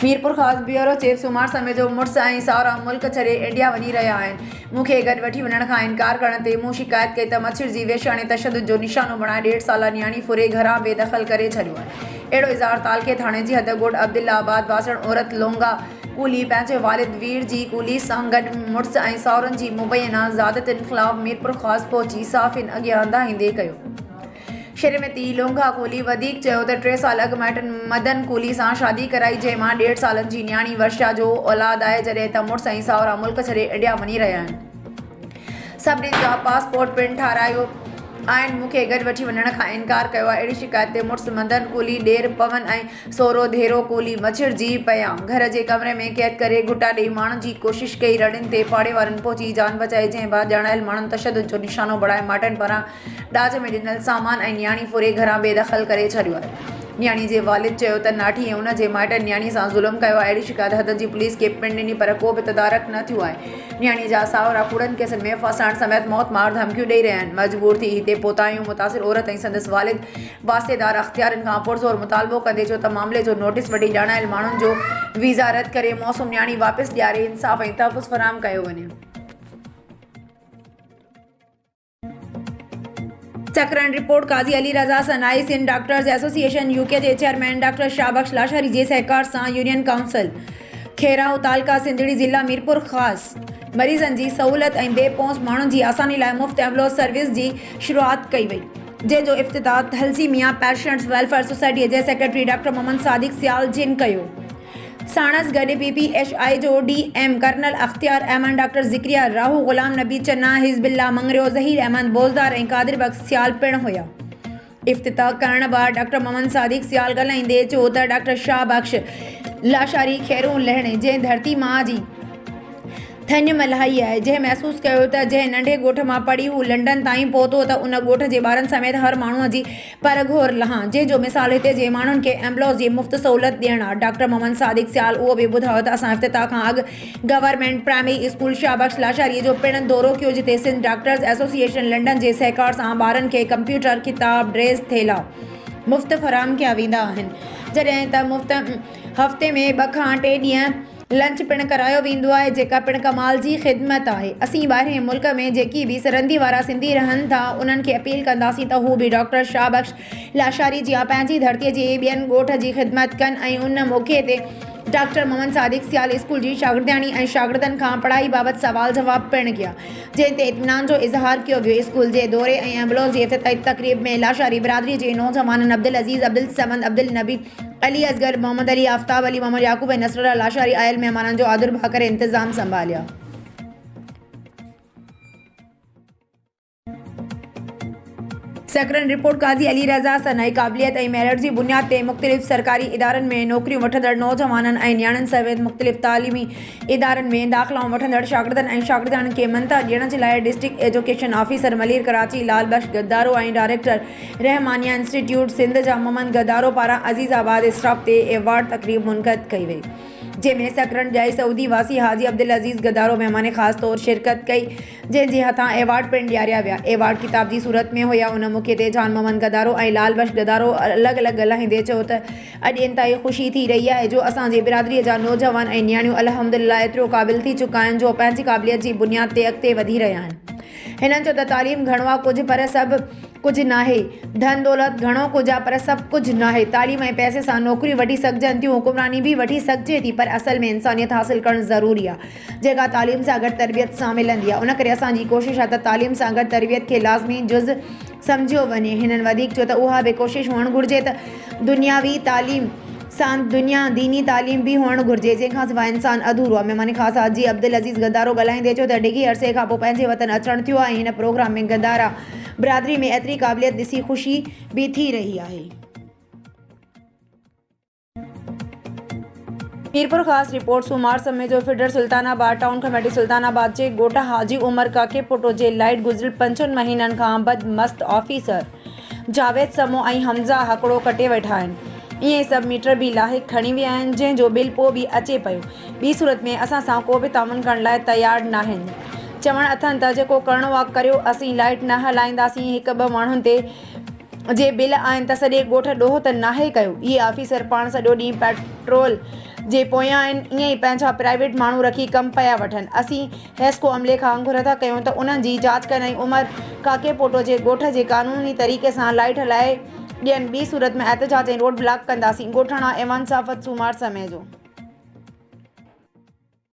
Mirpurkhas, bureau chief, Soomar سمي جو مڙس ۽ ساهرا ملڪ ڇڏي انڊيا وڃي رهيا آهن، مون کي گڏ وٺي وڃڻ کان انڪار ڪرڻ تي مون شڪايت ڪئي ته مڇر جي وحشياڻي تشدد جو نشانو بڻائي ڏيڍ سالا نياڻي ڦري گهران بي دخل ڪري ڇڏيو آهي اهڙو اظهار تعلقي ٿاڻي جي حد ڳوٺ عبدالله آباد باسڻ عورت لونگا ڪولهي پنهنجي والد وير جي ڪولهي سان گڏ مڙس ۽ ساهرن جي مبينا زيادتين خلاف ميرپورخاص پهچي صحافين اڳيان دانهيندي ڪيو. شھر ۾ تيء لونگھا ڪولھي وڌيڪ چيو ته ٽي سال اڳ مائٽن مدن ڪولھي سان شادي ڪرائي جنھن مان ڏيڍ سالن جي نياڻي ورشا جو اولاد آھي جڏھن ته مڙس ۽ ساھرا ملڪ ڇڏي انڊيا وڃي رھيا آھن سڀني جا پاسپورٽ پڻ ٺاھرايو آھن مون کي گڏ وٺي وڃڻ کان انڪار ڪيو آھي اھڙي شڪايت تي مڙس مدن ڪولھي ڏير پون ۽ سھرو ڌيرو ڪولھي مڇرجي پيا گھر جي ڪمري ۾ قيد ڪري گھوٽا ڏيئي ماڻڻ جي ڪوشش ڪئي رڙين تي پاڙي وارن پھچي جان بچائي جنھن بعد ڄاڻايل ماڻھن تشدد جو نشانو بڻائي مائٽن پاران ڏاج ۾ ڏنل سامان ۽ نياڻي ڦري گهران بي دخل ڪري ڇڏيو آهي. نياڻي جي والد چيو ته ناٺي ۽ ان جي مائٽن نياڻي سان ظلم ڪيو آهي، اهڙي شڪايت حد جي پوليس کي پڻ ڏني پر ڪو به تدارڪ نه ٿيو آهي. نياڻي جا ساهرا ڪوڙن ڪيسن ۾ ڦاسائڻ سميت موت مار ڌمڪيون ڏئي رهيا آهن. مجبور ٿي هتي پهتا آهيون، متاثر عورت ۽ سندس والد واسطيدار اختيارين کان پرزور مطالبو ڪندي چيو ته معاملي جو نوٽيس وٺي ڄاڻايل ماڻهن جو ويزا رد ڪري معصوم نياڻي واپس ڏياري انصاف ۽ تحفظ فراهم ڪيو وڃي. Sakrand, report, Qazi Ali Raza Sanai, Sindh doctors association UK جي چيئرمين ڊاڪٽر شاهه بخش لاشاري جي سهڪار سان يونين ڪائونسل کيرائو تعلقه سنڌڙي ضلع ميرپورخاص مريضن جي سهولت ۽ بي پهچ ماڻهن جي آساني لاء مفت ايمبولنس سروس جي شروعات ڪئي وئي. جنهن جو افتتاح ٿلسيميا پيشنٽس ويلفيئر سوسائٽي جي سيڪريٽري ڊاڪٽر محمد صادق سيال جن ڪيو. ساڻس گڏ پي پي ايڇ آء جو D M colonel Ikhtiar Ahmed, doctor Zakariya Rahu, Ghulam Nabi Chana, Hizbullah Mangrio, Zaheer Ahmed Bozdar ۽ قادر بخش سيال پڻ هيا. افتتاح ڪرڻ بعد ڊاڪٽر محمد صادق سيال ڳالهائيندي چيو ته ڊاڪٽر شاهه بخش لاشاري خيرون لهڻي جنهن ڌرتي ماء جي ٿڃ ملهائي آهي، جنهن محسوس ڪيو ته جنهن ننڍي ڳوٺ مان پڙهي هو لنڊن تائين پهتو ته ان ڳوٺ جي ٻارن سميت هر ماڻهوء جي پر گهور لهان، جنهن جو مثال هتي جي ماڻهن کي ايمبولنس جي مفت سهولت ڏيڻ آهي. ڊاڪٽر محمد صادق سيال اهو به ٻڌايو ته اسان افتتاح کان اڳ government primary school Shah Bakhsh Lashari جو پڻ دورو ڪيو جتي سنڌ ڊاڪٽرز ايسوسيئيشن لنڊن جي سهڪار سان ٻارن کي ڪمپيوٽر، ڪتاب، ڊريس، ٿيلها. مفت فراهم ڪيا ويندا آهن جڏهن ته مفت هفتي ۾ ٻه کان ٽي ڏينهن. لنچ پڻ ڪرايو ويندو آهي جيڪا پڻ ڪمال جي خدمت آهي اسين ٻاهرين ملڪ ۾ جيڪي به سرندي وارا سنڌي رهن ٿا انهن کي اپيل ڪنداسين ته هو به ڊاڪٽر شاهه بخش لاشاري جيان پنهنجي ڌرتي جي ٻين ڳوٺ جي خدمت ڪن ۽ ان موقعي تي ڊاڪٽر محمد صادق سيال اسڪول جي شاگردياڻي ۽ شاگردن کان پڙهائي بابت سوال جواب پڻ ڪيا جنهن تي اطمينان جو اظهار ڪيو ويو اسڪول جي دوري ۽ ايمبولنس جي افتتاحي تقريب ۾ لاشاري برادري جي نوجوانن عبدالعزيز عبدالصمد عبدالنبي علي اصغر، محمد علي، آفتاب علي، محمد يعقوب ۽ نصرالله لاشاري آيل مهمانن جو آڌر ڀاء ڪري انتظام سنڀاليا. سيڪرنڊ رپورٽ، قاضي علي رضا صنعي قابليت ۽ ميرٽ جي بنياد تي مختلف سرڪاري ادارن ۾ نوڪريون وٺندڙ نوجوانن ۽ نياڻين سميت مختلف تعليمي ادارن ۾ داخلائون وٺندڙ شاگردن ۽ شاگردياڻين کي مڃتا ڏيڻ جي لاء district education officer Malir Karachi Lal Bakhsh Gadaro ۽ director Rahmania institute Sindh جا محمد گدارو پاران عزيز آباد اسٽاف تي ايوارڊ تقريب منعقد ڪئي وئي جنهن ۾ سڪرنڊ جائي سعودي واسي حاجي عبدالعزيز گدارو مهمان خاص طور شرڪت ڪئي جنهن جي هٿان ايوارڊ پڻ ڏياريا ويا ايوارڊ ڪتاب جي صورت ۾ هيا ان موقعي تي جان محمد گدارو ۽ لال بخش گدارو الڳ الڳ ڳالهائيندي چيو ته اڄ انتهائي خوشي ٿي رهي آهي جو اسان جي برادري جا نوجوان ۽ نياڻيون الحمدلله ايترو قابل ٿي چڪا آهن جو پنهنجي قابليت جي بنياد تي اڳتي وڌي رهيا آهن هنن چيو ته تعليم گهڻو آ ڪجهه پر سڀ ڪجهه ناهي، ڌن دولت گهڻو ڪجهه آ پر سڀ ڪجهه ناهي، تعليم ۽ پئسي سان نوڪريون وٺي سگهجن ٿيون، حڪمراني به وٺي سگهجي ٿي پر اصل ۾ انسانيت حاصل ڪرڻ ضروري آ، جيڪا تعليم سان گڏ تربيت سان ملندي آ، ان ڪري اسان جي ڪوشش آ ته تعليم سان گڏ تربيت کي لازمي جز سمجهيو وڃي. هنن وڌيڪ چيو ته اها به ڪوشش هئڻ گهرجي ته دنياوي تعليم سان دنيا ديني تعليم به هئڻ گهرجي، جنهن کان سواء انسان اڌورو آهي. مهمان خاص حاجي عبدالعزيز گدارو ڳالهائيندي چيو ته ڊگهي عرصي کان پوء پنهنجي وطن اچڻ ٿيو آهي، هن پروگرام ۾ گدارا برادري ۾ ايتري قابليت ڏسي خوشي به ٿي رهي آهي. ميرپورخاص، رپورٽ، سومار سمي جو فيڊر Sultanabad town committee Sultanabad جي ڳوٺ حاجي عمر ڪاڪي پٽو جي لائيٽ گذريل پنج ڇهن مهينن کان بد مست آفيسر جاويد سمو ۽ حمزه هڪڙو ڪٽي ويٺا آهن ائين سب ميٽر به لاهي کڻي ويا آهن جنهن جو بل پو به اچي پيو ٻي صورت ۾ اسان سان ڪو به تعاون ڪرڻ لاء تيار ناهن چوڻ اٿن ته جيڪو ڪرڻو آ ڪريو اسين لائيٽ نه هلائينداسين هڪ ٻه ماڻهن تي جي بل آهن ته سڄي ڳوٺ ڏوهه ته ناهي ڪيو. اهي آفيسر پاڻ سڄو ڏينهن پيٽرول جي پويان آهن، ائين ئي پنهنجا پرائيويٽ ماڻهو رکي ڪم پيا وٺن. اسين حيسڪو عملي کان گهر ٿا ڪيون ته انهن جي جاچ ڪن ۽ عمر ڪاڪي پوٽو جي ڳوٺ جي قانوني طريقي سان لائيٽ هلائي ڏين، ٻي صورت ۾ احتجاج ۽ روڊ بلاڪ ڪنداسين، ڳوٺاڻا ايوان صافت سومار سمي جو.